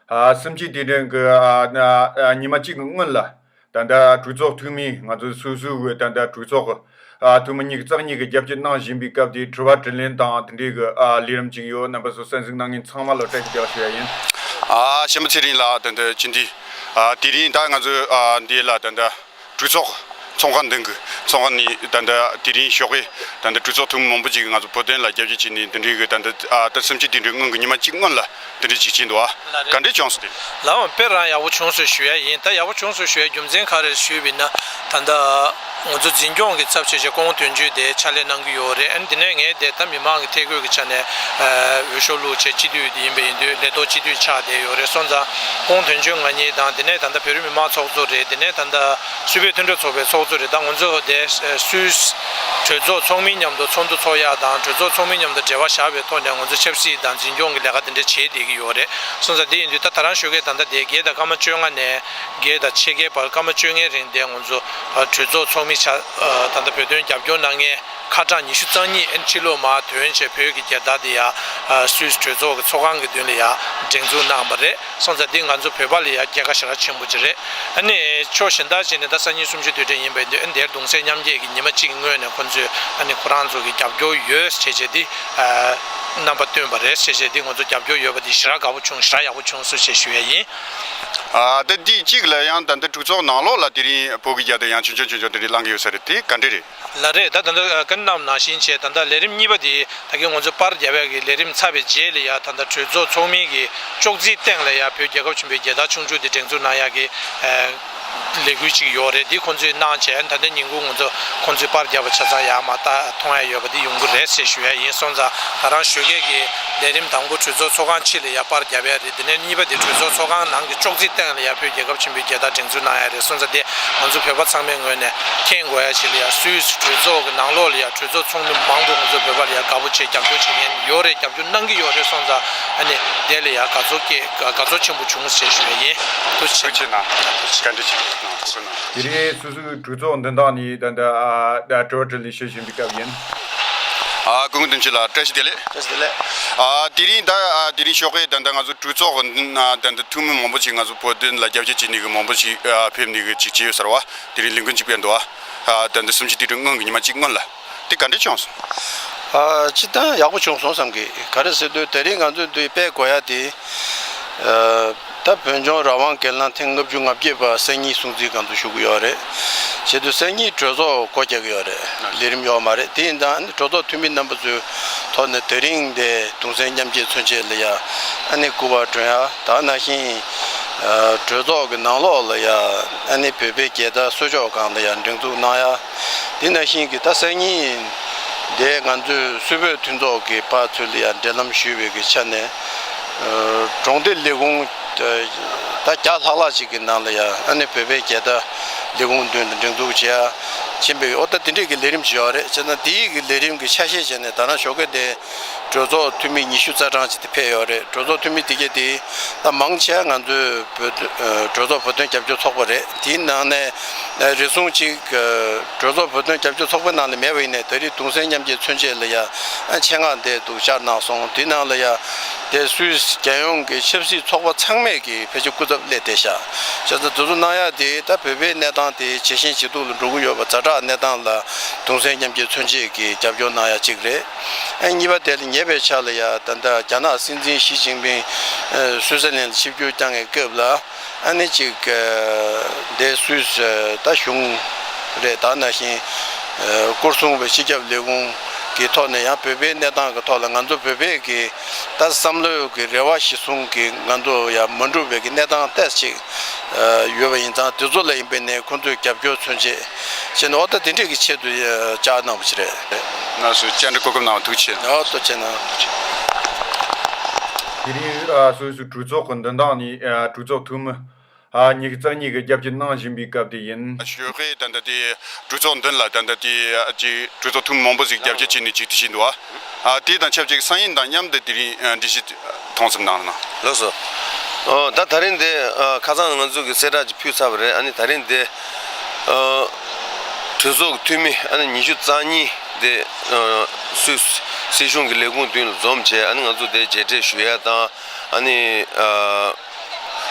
སེམས་སྐྱིད་དེ་དྲན་གི། ཉི་མ་གཅིག་གི་སྔོན་ལ། ད་ལྟ་གྲོས་ཚོགས་འཐུས་མི་ང་ཚོ་སོ་སོའི་འོས་ཐ་ན་གྲོས་ཚོགས་ཀྱི། འཐུས་མི་གཉིས་ཀྱི་རྩ་གཉིས་ཀྱི་རྒྱབ་སྐྱོར་གནང་བཞིན་པའི་སྐབས་དེའི་དྲི་བ་དྲི་ལན་དང་དེ་འབྲེལ་གྱི་ལས་རིམ་ཅིག་ཡོད་རྣམ་པ་ཚོ་གསན་གཟིགས་གནང་མཁན་ཚང་མ་ལ་བཀྲ་ཤིས་བདེ་ལགས་ཞུ་ཡ་ཡིན། གཞོན་པ་ཚེ་རིང་ལགས་ད་ལྟ་ཅི་འདྲའི། དེ་རིང་ད་ང་ཚོའི་འདི་ལ་ད་ལྟ། གྲོས་ཚོགས་ཚོགས་ཁང་འདི་གི་ཚོགས་ཁང་ནི་ད་ལྟ་དེ་རིང་ཞོགས་ཀྱི་ད་ལྟ་གྲོས་ཚོགས་ཐུང་ངུ་མང་པོ་ཅིག་གིས་ང་ཚོ་བོད་དོན་ལ་རྒྱབ་སྐྱོར་བྱས་ནས་འདི་འདྲའི་གི་ད་ལྟ་ཨ་ལྟ་སེམས་ཅན་དེ་འདྲའི་སྔོན་གྱི་ཉི་མ་གཅིག་སྔོན་ལ་འདི་འདྲའི་ཅིག་བྱས་འདུག་ཨ། ག་འདྲའི་བྱུང་སོ་དེ། ལའང་དཔེར་རང་ཡག་པོ་བྱུང་སོ་ཞུ་ཡ་ཡིན་ད་ཡག་པོ་བྱུང་སོ་ཞུ་ཡ་རྒྱུ་མཚན་ག་རེར་ཞུས་བས་ན་ད་ལྟ་ཨ། ང་ཚོ་འཛིན་སྐྱོང་གི་ཚབ་བྱེད་ཆེད་ཀོང་དོན་གཅོད་དེ་ཕྱག་ལས་གནང་གི་ཡོད་རེད་ཨ་འདི་ནས་ངས་དེ་ད་མི་མང་གི་ཐད་བསྐོས་ཀྱི་ཆ་ནས་ཨ་འོས་ཤོག་བླུག་ཆེད་སྤྱི་འཐུས་ཡིན་པ་ཡིན་དུས་ལས་ཐོག་སྤྱི་འཐུས་ཆགས་བསྡད་ཡོད་རེད་སོང་ཙང། ཁོང་དོན་གཅོད་ང་གཉིས་དང་དེ་ནས་ད་ལྟ་བོད་རིགས་མི་མང་ཚོགས་གཙོ་རེད་དེ་ནས་ད་ལྟ་སུད་བོད་མཐུན་གྲོགས་ཚོགས་པའི་ཚོགས་གཙོ་རེད་ད་ང་ཚོ་དེ་སུད། གྲོས་ཚོགས་ཚོགས་མི་མཉམ་དུ་ཚོགས་འདུ་ཚོགས་ཡག་དང་གྲོས་ཚོགས་ཚོགས་མི་མཉམ་དུ་འབྲེལ་བ་བཞག་པའི་ཐོག་ནས་ང་ཚོ་ཆབ་སྲིད་དང་འཛིན་སྐྱོང་གི་ལས་ཀ་དེ་འདྲ་བྱེད་བསྡད་ཀྱི་ཡོད་རེད་གསུངས་ས་དེ་ཡིན་དུས་ད་ད་རང་ཤོད་མཁན་ད་ལྟ་དེ་བརྒྱད་དང་སྐར་མ་བཅོ་ལྔ་ནས་བརྒྱད་དང་ཕྱེད་ཀའི་བར་སྐར་མ་བཅོ་ལྔའི་རིང་དེ་ང་ཚོ་གྲོས་ཚོགས་ཚོགས་མི་ཆགས་ད་ལྟ་བོད་དོན་རྒྱབ་སྐྱོར་གནང་མཁན། ཁ་གྲངས་ཉི་ཤུ་རྩ་གཉིས་ཨེན་ཁྲི་ལོ་མ་དོན་བྱས་བོད་ཀྱི་རྒྱལ་དར་དེ་ཡ་སུད་གྲོས་ཚོགས་ཀྱི་ཚོགས་ཁང་གི་མདུན་ལ་ཡ་སྒྲེང་འཛུགས་གནང་བ་རེད་སོང་ཙང་འདི་ང་ཚོ་བོད་པ་ལ་ཡ་སྐྱེད་ཀ་ཞེ་དྲག་ཆེན་པོ་ཅིག་རེད་ཨ་ནི་ཕྱོགས་ཞེན་དག་བྱས་ནས་ད་སང་ཉིན་གསུམ་བཅུ་དུས་དྲན་ཡིན་པ་ཡིན་དུས་ཨ་ནི་དེར་གདུང་སེམས་མཉམ་སྐྱེད་ཀྱི་ཉི་མ་གཅིག་སྔོན་ནས་ཁོ་ཚོས་ཨ་ནི་ཁོ་རང་ཚོ་གི་རྒྱབ་སྐྱོར་ཡོད་ཅེས་བྱས་འདི་རྣམ་པ་སྟོན་པ་རེད་ཅེས་བྱས་འདི་ང་ཚོ་རྒྱབ་སྐྱོར་ཡོད་པ་འདི་ཞེ་དྲག་དགའ་བོ་བྱུང་ཞེ་དྲག་ཡག་པོ་བྱུང་གསུ་བྱས་ཞུ་ཡ་ཡིན། ད་འདི་གཅིག་ལ་ཡང་ད་འདི་གྲོས་ཚོགས་ནང་ལོགས་ལ་དེ་རིང་བོད་ཀྱི་རྒྱལ་དར་ཡང་ཆུང་ཆུང་ཆུང་ཆུང་དེ་རིང་བླང་གི་ཡོད་ས་རེད་དེ་ག་འདྲས་རེད། ལ་རེད་ད་ད་ལྟ་ཀན་རྣམ་ནང་བཞིན་བྱས་ད་ལྟ་ལས་རིམ་གཉིས་པ་དེ་ད་གིན་ང་ཚོ་པར་རྒྱ་བལ་གི་ལས་རིམ་ཚར་བའི་རྗེས་ལ་ཡང་ད་ལྟ་གྲོས་ཚོགས་ཚོགས་མིན་གི་ཅོག་ཙིའི་སྟེང་ལ་ཡང་བོད་རྒྱལ་ཁབ་ཆེན་པོའི་རྒྱལ་དར་ཆུང་ཆུང་དེ་བསྒྲེངས་འཛུགས་གནང་ཡག་གི་ལས་འགུལ་ཅིག་ཡོག་རེད་འདི་ཁོང་ཚོས་གནང་བྱས་ད་ལྟ་ཉིན་གུང་ང་ཚོ་ཁོང་ཚོས་པར་རྒྱ་བ་ཆ་ཚང་ཡག་མ་ད་ཐོང་ཡག་ཡོད་པ་དེ་ཡོང་གི་རེད་ཟེར་ཞུ་ཡག་ཡིན་སོང་ཙང་ད་རང་ཞོད་སྐད་གི་ལས་རིམ་དང་པོ་གྲོས་ཚོགས་ཚོགས་ཁང་ཕྱི་ལ་ཡང་པར་རྒྱ་བལ། དེ་ནས་གཉིས་པ་དེ་གྲོས་ཚོགས་ཚོགས་ཁང་ནང་གི་ཅོག་ཙེའི་སྟེང་ལ་ཡར་ཕེབས་རྒྱལ་ཁབ་ཆེན་པོའི་རྒྱལ་དར་བསྒྲེངས་ཚུལ་གནང་ཡ་རེད་གསུངས་ཚ་དེ་ང་ཚོ་བོད་པ་ཚང་མའི་ངོས་ནས་མཁྱེན་དགོས་ཡ་བྱེད་ལ་ཡ་སུད་སི་གྲོས་ཚོགས་ཀྱི་ནང་ལོགས་ལ་ཡ་གྲོས་ཚོགས་ཚོགས་མི་མང་པོ་ང་ཚོ་བོད་པ་ལ་ཡ་དགའ་པོ་བྱེད་རྒྱབ་སྐྱོར་བྱེད་མཁན་ཡོད་རེད་རྒྱབ་སྐྱོར་གནང་གི་ཡོད་རེད་གསུངས་ཚ་ཨ་ནི་དེ་ལ་ཡ་དགའ་ཚོར་སྐྱེ་དགའ་ཚོར་ཆེན་པོ་བྱུང་ཟེར་ཞུ་བ་ཡིན་ཐུགས་ཆེ་གནང་བཀའ་འདྲི་ཆེན་པོ་གནང་ཐུགས་གསོ་གནང། དེ་རིང་སུད་སི་གྲོས་ཚོགས་འདི་དག་ནས་ད་ལྟ་གྲོས་འཆར་ལས་བྱེད་བཞིན་སྐབས་ཡིན། དགོས་མཁོ་དོན་གཅོད་ལ་བཀྲ་ཤིས་བདེ་ལེགས། དེ་རིང་ད་དེ་རིང་ཤོག་ཁའི་ད་ལྟ་ང་ཚོ་གྲོས་ཚོགས་ད་ལྟ་ཐུང་མི་མང་པོ་ཞིག་ང་ཚོ་བོད་དོན་ལ་རྒྱབ་སྐྱོར་བྱེད་ནི་གི་མང་པོ་ཞིག་ཕེབས་ནི་གི་ཅིག་བྱས་ཡོད་ས་ར་བ་དེ་རིང་ལས་འགུལ་འཇིག་པའི་འདུ་བ་ད་ལྟ་སུམ་ཅུ་དུས་དྲུག་སྔོན་གྱི་ཉི་མ་གཅིག་སྔོན་ལ་དེ་ག་འདྲས་བྱུང་སོང། ཅི་ལྟ་ཡག་པོ་བྱུང་སོང་བསམ་གི་ག་རེ་ཟེར་དུས་དེ་རིང་ང་ཚོའི་དུས་དཔལ་གོ་ཡ་དེ། ད་བོད་ལྗོངས་རང་དབང་གལ་ནང་ཐེངས་ལྔ་བཅུ་ང་བརྒྱད་པ་གསན་གཉིས་སྲུང་གཙིའི་སྒང་དུ་ཞུགས་ཀྱི་ཡོད་རེད། བྱེད་དུ་གསན་གཉིས་གྲོས་ཚོགས་སྒོ་རྒྱག་གི་ཡོད་རེད། ལས་རིམ་ཡོག་མ་རེད་དེ་ཡིན་ད་ནི་གྲོས་ཚོགས་འཐུས་མི་རྣམ་པ་ཚོའི་ཐོག་ནས་དེ་རིང་འདས་གྲོངས་གསན་མཉམ་བསྐྱེད་མཚོན་ཆེད་ལ་ཡ་ཨ་ནི་སྐུ་པར་བསྒྲོན་ཡ་ད་ནང་བཞིན་གྲོས་ཚོགས་ཀྱི་ནང་ལོགས་ལ་ཡ་ཨ་ནི་བོད་པའི་རྒྱལ་དར་གསོལ་ཆོག་སྒང་ལ་ཡ་སྒྲེང་འཛུགས་གནང་ཡ་དེ་ནང་བཞིན་གྱི་ད་གསན་གཉིས་འདས་ང་ཚོའི་སུད་བོད་མཐུན་ཚོགས་ཀྱི་པ་ཚོས་ལ་ཡ་འབྲེལ་ལམ་ཞུས་བའི་གི་ཆ་ནས། གྲོང་སྡེ་ལས་ཁུངས་ད་བརྒྱ་ལྷག་ལྷག་ཅིག་གི་ནང་ལ་ཡང་ཨ་ནེ་བོད་པའི་རྒྱལ་དར་ལས་ཁུངས་མདུན་དུ་འགྲེང་འདུག་བྱེད་ཀྱིན་པའི་འོ་ད་དེ་འདྲས་ཀྱི་ལས་རིམ་བྱེད་པ་རེད་བྱས་ཙང་དེའི་གི་ལས་རིམ་གྱི་ཆ་ཤས་བྱས་ནས་ད་ནང་ཞོགས་ཀའི་དེ་གྲོས་ཚོགས་འཐུས་མི་ཉི་ཤུ་རྩ་གྲངས་ཅིག་དེ་ཕེབས་ཡོད་རེད་གྲོས་ཚོགས་འཐུས་མི་དེ་གས་དེ་ད་མང་ཆེ་ང་ཚོའི་བོད་དོན་གྲོས་ཚོགས་བོད་དོན་རྒྱབ་སྐྱོར་ཚོགས་པ་རེད་དེའི་ནང་ནས་རེ་ཟུང་ཅིག་གྲོས་ཚོགས་བོད་དོན་རྒྱབ་སྐྱོར་ཚོགས་པའི་ནང་ལ་མེད་པ་ཡིན་ནས་ད་རིས་དུང་སེང་མཉམ་སྐྱེ་མཚོན་ཆེད་ལ་ཡང་ཆེད་མངགས་འདས་འདུག་བཅར་གནང་སོང་དེའི་ནང་ལ་ཡང། ཏེ་སུད་སི་རྒྱལ་ཡོངས་ཀྱི་ཆབ་སྲིད་ཚོགས་པ་ཚང་མས་ཀྱི་བེད་སྤྱོད་སྐུ་ཚབ་སླེ་ཏེ་ཤ་ཇཱ་ཚ་འཛུལ་བཟོ་གནང་ཡག་དེ་ད་བོད་པའི་གནས་སྟངས་དེ་ཇེ་ཞན་ཇེ་སྡུག་ལ་འགྲོ་གི་ཡོད་པ་རྫ་དྲག་གནས་སྟངས་ལ་དུང་སེམས་མཉམ་སྐྱེད་མཚོན་བྱེད་ཀྱི་རྒྱབ་སྐྱོར་གནང་ཡག་གཅིག་རེད་ཨེ་གཉིས་པ་དེ་ལ་ཉེ་བའི་ཆ་ལ་ཡ་ད་རྒྱ་ནག་སྲིད་འཛིན་ཞི་ཅིང་ཕིང་སུད་སི་ལན་ལ་ཆིབས་བསྒྱུར་བསྐྱང་ངེས་སྐབས་ལ། ཨ་ནི་ཅིག། དེ་སུས་བཟོས་ད་གཞུང་རེད་ད་ན་བཞིན། སྐུ་སྲུང་བའི་སྤྱི་ཁྱབ་ལས་ཁུངས་ཀྱི་ཐོག་ནས་ཡང་བོད་པའི་གནས་སྟངས་ཀྱི་ཐོག་ལ་ང་ཚོ་བོད་པས་ཀྱི་ད་བསམ་བློའི་ཀྱི་རེ་བ་ཞིག་བཟུང་ཀྱི་ང་ཚོ་ཡང་མ་འགྲུབ་པའི་ཀྱི་གནས་སྟངས་ལྟས་ཅིག་ཡོད་པ་ཡིན་ཙང་དེ་ཚོ་ལ་ཡིན་པའི་ནས་ཁོང་ཚོས་རྒྱབ་སྐྱོར་མཚོན་ཆེད་བྱས་ནས་འོ་ད་དེ་འདྲས་ཀྱི་ཆེད་དུ་བཅར་གནང་བ་ཞིག་རེད། ནར་སོན་བཅར་འདྲི་གོ་སྐབས་གནང་བ་ཐུགས་ཆེ། ནར་སོན་བཅར་གནང་བ་ཐུགས་ཆེ། དེ་རིང། གྲོས་ཚོགས་ཀྱི་འདུ་འདང་ནི་གྲོས་ཚོགས་འཐུས་མི་ཉིས་རྩ་གཉིས་ཀྱི་རྒྱབ་སྐྱོར་གནང་བཞིན་པའི་སྐབས་དེ་ཡིན། ཞོལ་ཁའི་གྲོས་ཚོགས་མདུན་ལ་གྲོས་ཚོགས་འཐུས་མི་མང་པོ་ཞིག་རྒྱབ་སྐྱོར་བྱས་ནས་ཇུས་གཏུག་བྱས་འདུག་དེ་དང་ཆབས་ཅིག་སང་ཉིན་དང་མཉམ་དུ་དེ་རིང་འགྲེལ་བཤད་ཐེངས་གསུམ་གནང་གནང། ལགས་སོ། ད་ད་རིང་འདི་ཁ་སང་ང་ཚོས་གི་གསལ་བསྒྲགས་ཅིག་ཕུལ་ཚར་བ་རེད་ཨ་ནི་ད་རིང་འདི། གྲོས་ཚོགས་ཀྱི་འཐུས་མི་ཨ་ནི་ཉི་ཤུ་རྩ་གཉིས་འདི་སུད་སི་གཞུང་གི་ལས་ཁུངས་མདུན་ལ་འཛོམས་བྱས་ཨ་ནི་ང་ཚོ་དེ་མཇལ་འཕྲད་ཞུ་ཡ་དང། ཨཱ་ནི།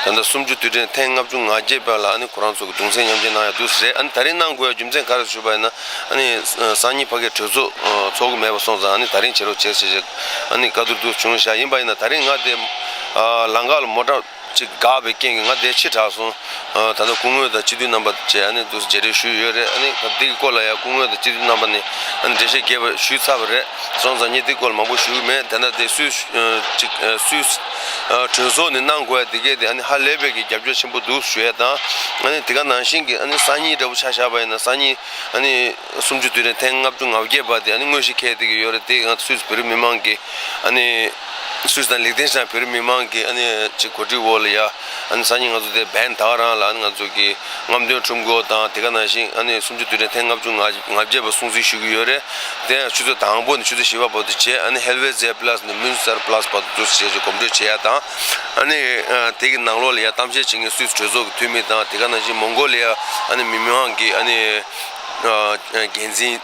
ད་ལྟ་སུམ་ཅུ་དུས་དྲན་ཐེངས་ལྔ་བཅུ་ང་བརྒྱད་པ་ལ་ཨཱ་ནི་ཁོ་རང་ཚོ་གི་གདུང་སེམས་མཉམ་སྐྱེད་གནང་ཡག་འདུག་ཟེར་ཨཱ་ནི་ད་རིང་གནང་དགོས་ཡ་རྒྱུ་མཚན་ག་རེ་ཞུས་པ་ཡིན་ན་ཨཱ་ནི་སང་ཉིན་ཕ་གིའི་གྲོས་ཚོགས་ཚོགས་གི་མེད་པ་སོང་ཙང་ཨཱ་ནི་ད་རིང་བྱེད་རོགས་བྱེད་ཟེར་ཞེས་ཨཱ་ནི་བཀའ་བསྡུར་དུ་བྱུང་བཞག་ཡིན་པ་ཡིན་ན་ད་རིང་ང་དེ་ལང་ཁ་ལ་མོ་ཏྲ་གཅིག་བགགས་པའི་རྐྱེན་གྱིས་ང་དེ་ཕྱིར་དྲགས་སོང་ད་ལྟ་སྐུ་ངོས་དང་སྤྱི་འཐུས་རྣམ་པ་བཅས་ཨཱ་ནི་དུ་མཇལ་འཕྲད་ཞུས་ཡོད་རེད་ཨཱ་ནི་སྐབས་དེ་གི་སྐོར་ལ་ཡང་སྐུ་ངོས་དང་སྤྱི་འཐུས་རྣམ་པ་ནས་ཨཱ་ནི་འགྲེལ་བཤད་རྒྱས་པ་ཞུས་ཚར་བ་རེད། གཙང་བཟང་གཉིས་འདི་སྐོར་མང་པོ་ཞུས་མེད་དེ་འདྲ་དེ་སུས་གྲོས་ཚོགས་ནས་གནང་དགོས་ཡ་དེ་སྐད་དེ་ཧ་ལས་པའི་གི་རྒྱབ་སྐྱོར་ཆེན་པོ་འདུག་ཞུ་ཡ་དང་དེ་ག་ནང་བཞིན་གི་སང་ཉིན་འདྲ་པོ་ཆ་བཞག་པ་ཡིན་ན་སང་ཉིན་སུམ་ཅུ་དུས་རེ་ཐེངས་ལྔ་བཅུ་ང་བརྒྱད་པ་དེ་དངོས་གཞི་ཁེལ་དེ་གི་ཡོད་རེད་དེ་ང་སུས་བོད་རིགས་མི་མང་གི་སུས་དང་ལེགས་ལྡན་ཞིང་བོད་རིགས་མི་མང་གི་གོ་སྒྲིག་འོག་ལ་ཡ། སང་ཉིན་ང་ཚོ་དེ་བན་དྭགས་རང་ལ་ང་ཚོ་གིས་རྔམ་སྟོན་ཁྲོམ་སྐོར་དང་དེ་ག་ནང་བཞིན་སུམ་ཅུ་དུས་དྲན་ཐེངས་ལྔ་བཅུ་ང་བརྒྱད་པ་སྲུང་བརྩི་ཞུ་གི་ཡོད་རེད། དེ་ཡང་ཆུ་ཚོད་དང་པོ་ནས་ཆུ་ཚོད་བཞི་བ་བར་དུ་བྱས་ཧེལ་བེ་ཛེ་བྷླ་སི་ནས་མུན་སར་བྷླ་སི་བར་དུ་འཛུགས་སུ་བྱས་ཞེས་གོམ་བགྲོད་བྱས་ཡ་དང། དེ་གི་ནང་ལོགས་ལ་ཡ་གཏམ་བཤད་བྱེད་མཁན་སུད་སི་གྲོས་ཚོགས་ཀྱི་འཐུས་མི་དང་དེ་ག་ནང་བཞིན་མོང་གོ་ལི་ཡ་མི་དམངས་ཀྱི་འགན་འཛིན།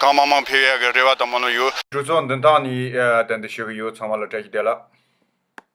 གང་མང་མང་འཕེལ་བའི་རེ་བ་དང་མོ་ནོ་ཡོད། གྲོས་ཚོགས་འདི་དག་ནི་དེ་འདི་ཞུ་གི་ཡོད་ཚང་མ་ལ་སྤྲད་ཀྱི་བསྡད་ལ།